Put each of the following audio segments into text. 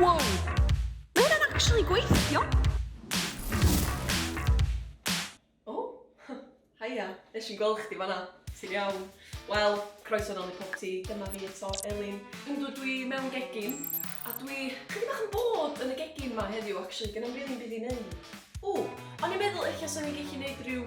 Wow! Mae hwnna'n actually gweithio! O, oh, haia, nes i'n gweld chdi fanna. Ti'n iawn? Wel, croeso nol i popty, dyma fi eto, Elin. Yndw, dwi mewn gegin, a dwi chydig bach yn bod yn y gegin ma heddiw, actually, gen i'm rili byd i neud. O, o'n i'n meddwl ella swn i'n gallu neud rhyw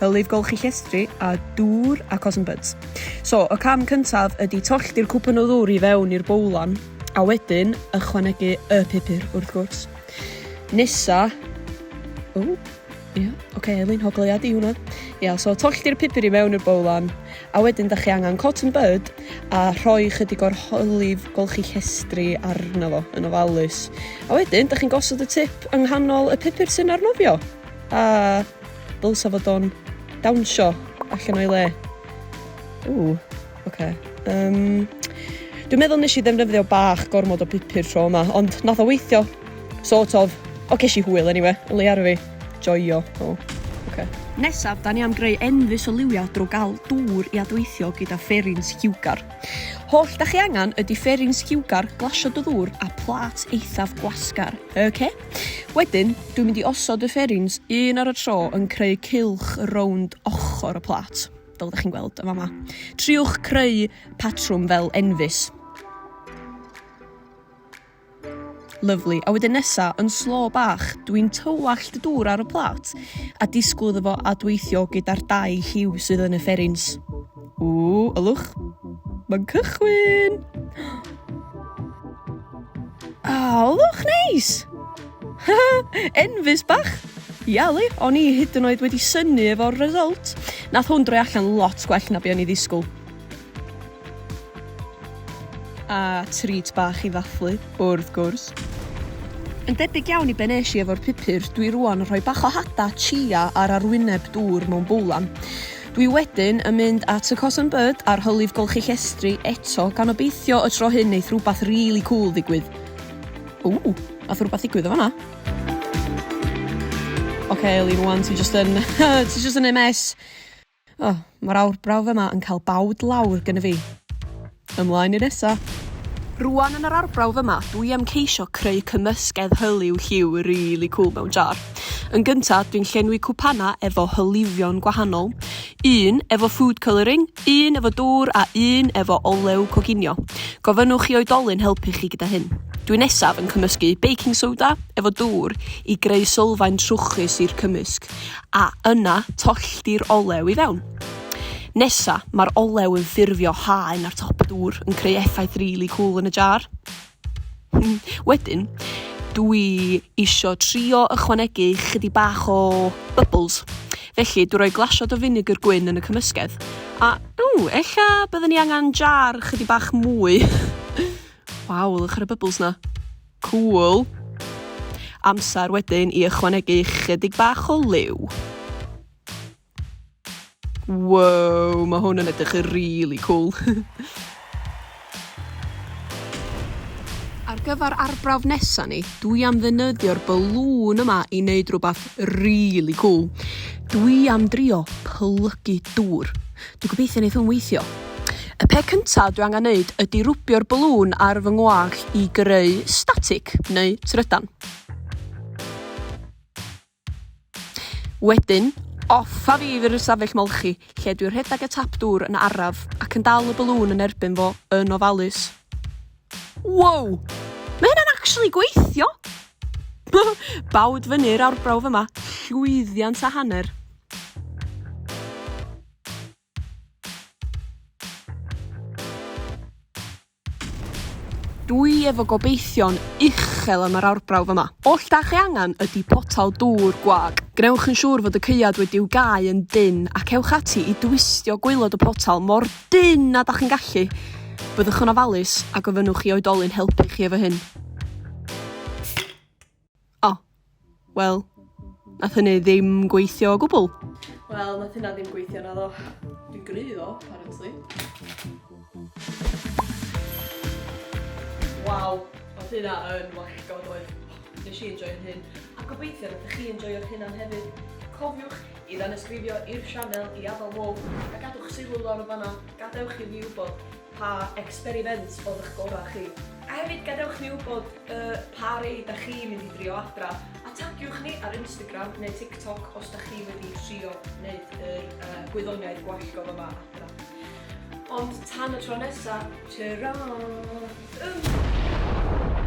hylif golchi llestri a dŵr a cotton buds. So, y cam cyntaf ydy tollti'r cwpan o ddŵr i fewn i'r bowlan a wedyn ychwanegu y pupur wrth gwrs. Nesa, o, ia, yeah. oce, okay, Elin, hogleiad i hwnna. Ia, yeah, so tollti'r pupur i mewn i'r bowlan a wedyn da chi angen cotton bud a rhoi chydig o'r hylif golchi llestri arno fo yn ofalus. A wedyn, da chi'n gosod y tip yng nghanol y pupur sy'n arnofio. A Dylsa fod o'n dawnsio allan o'i le. Ww, oce. Yym, Dwi'n meddwl nes i ddefnyddio bach gormod o pupur tro yma, ond nath o weithio. Sort of. O, ces i hwyl anyway, yn leia ar fi. Joio. O, oce. Nesaf, da ni am greu enfys o liwiau drwy gael dŵr i adweithio gyda fferin sgiwgar. Holl da chi angen ydy fferin sgiwgar, glasio dy ddŵr a plât eithaf gwasgar. Oce? Wedyn, dwi'n mynd i osod y ffairings un ar y tro yn creu cylch rownd ochr y plat, fel ydych chi'n gweld yn fama. Triwch creu patrwm fel enfys. Lyflu. A wedyn nesa, yn slo bach, dwi'n tywallt y dŵr ar y plat a disgwyl iddo fo adweithio gyda'r dau lliw sydd yn y ffairings. Ww, ylwch. Mae'n cychwyn! A, oh, ylwch, neis! Enfus bach! Iali, o'n i hyd yn oed wedi syni efo'r result. Nath hwn droi allan lot gwell na be o'n i ddisgwyl. A treat bach i ddathlu, wrth gwrs. Yn debyg iawn i be nes i efo'r pupur, dwi rwan yn rhoi bach o hada, chia a'r arwyneb dŵr mewn bowlan. Dwi wedyn yn mynd at y Cotton Bud a'r hylif golchi llestri eto gan obeithio y tro hyn neith rwbath rili cŵl ddigwydd. Ww! Nath rwbath ddigwydd yn fan'na. Ocê Elin rŵan ti jyst yn ti jyst yn neu' mess. O ma'r awr brawf yma yn ca'l bawd lawr gynna fi. Ymlaen i nesa! Rwan yn yr arbrawf yma dw i am ceisio creu cymysgedd hyliw lliw rili cwl mewn jar. Yn gynta dwi'n llenwi cwpana efo hylifio'n gwahanol, un efo food colouring, un efo dwr a un efo olew coginio. Gofynnwch i oedolyn helpu chi gyda hyn. Dwi nesaf yn cymysgu baking soda efo dwr i greu sylfaen trwchus i'r cymysg a yna tollti'r olew i fewn. Nesa, mae'r olew yn ffurfio haen ar top y dŵr yn creu effaith really cool yn y jar. Hmm, wedyn, dwi isio trio ychwanegu chydig bach o bubbles. Felly, dwi roi glasiad o vinegar gwyn yn y cymysgedd. A, ww, ella byddwn ni angen jar chydig bach mwy. Waw, lwch ar y bubbles na. Cool. Amser wedyn i ychwanegu chydig bach o liw. Wow, mae hwn yn edrych yn really cool. Ar gyfer arbrawf nesa ni, dwi am ddynyddio'r balŵn yma i wneud rhywbeth really cool. Dwi am drio plygu dŵr. Dwi'n gobeithio wneud hwn weithio. Y pe cyntaf dwi angen wneud ydy rwbio'r balŵn ar fy ngwag i greu static neu trydan. Wedyn, off a fi i fyr'r ystafell molchi, lle dwi rhedeg y tap dŵr yn araf ac yn dal y balŵn yn erbyn fo yn ofalus. Wow! Mae hynna'n actually gweithio! Bawd fyny'r awrbrawf yma, llwyddiant a hanner. Dwi efo gobeithion uchel am yr arbrawf yma. Oll da chi angen ydi potel dŵr gwag. Gwnewch yn siŵr fod y caead wedi'w gau yn dynn ac ewch ati i dwistio gwaelod y potel mor dynn â da chi'n gallu. Byddwch yn ofalus a gofynnwch i oedolyn helpu chi efo hyn. O, wel, nath hynny ddim gweithio o gwbl. Wel, nath hynna ddim gweithio na ddo. Dwi'n gry ddo, apparently. Waw, oedd hynna yn wacgo doedd. Nes i enjoy'r hyn, a gobeithio rydych chi enjoyo'r hyn am hefyd. Cofiwch i ddanesgrifio i'r sianel i adael hôl a gadwch sylw lawr y fanna, gadewch i fi wybod Pa experiment oedd ych gorau chi? A hefyd gadewch ni wybod y pa rei da chi mynd i drio adra a tagiwch ni ar Instagram neu TikTok os da chi wedi trio neud yr yy gwyddoniaeth gwallgo fyma adra. Ond tan y tro nesa, tara! Ym!